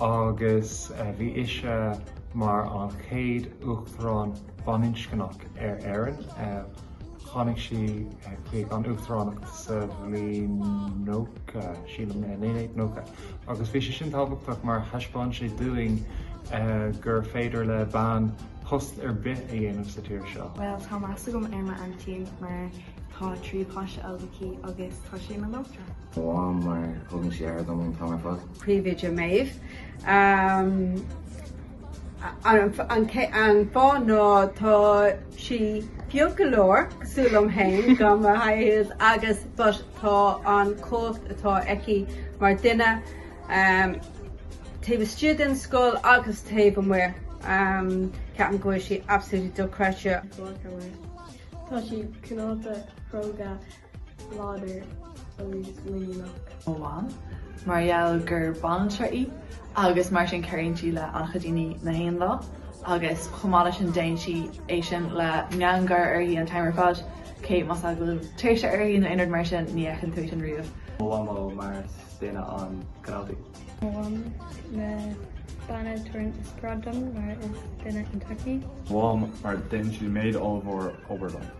agus bhí ise mar an chéad Uachtarán baininscneach ar Éirinn. Tháinig sí chuig an Uachtaránacht sa bhliain 90, sílim, 1990, agus bhí sé sin tábhachtach mar thaispeáin sé dúinn gur féidir le bean post ar bith a dhéanamh sa tír seo. Bhuel, tá meas agam ar m'aintín mar tá trí páiste óg aici agus tá sé ina laochra. Mo mham mar a thugann sí aire dom an t-am ar fad. Príomhoide Maeve, An fáth ná tá sí beag go leor, cosúil liom féin, gan mo thaifead agus but tá an chumhacht atá aici mar duine taobh istigh den scoil agus taobh amuigh. Ceapaim go bhfuil sí absolutely dochreidte. Tá sí cineálta, cróga. láidir agus muiníneach. mo mham mar gheall gur banaltra í agus mar sin cabhraíonn sí le an-chuid daoine gach aon lá agus chomh maith leis sin déann sí é sin le meangadh gáire uirthi an t-am ar fad cé más ea go bhfuil tuirse uirthi nó aon rud mar sin ní fheiceann tú é sin riamh. mo mhamó mar is duine an-chineálta í. mo mham an bhean a thugann inspioráid dom mar is duine iontach í. mo mham mar déanann sí méid ollmhór obair dom.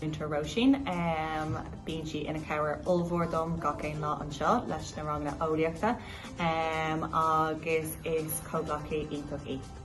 Múinteoir Róisín, Bíonn sí ina cabhair ollmhór dom gach aon lá anseo leis na ranganna eolaíochta agus is comhghleacaí iontach í.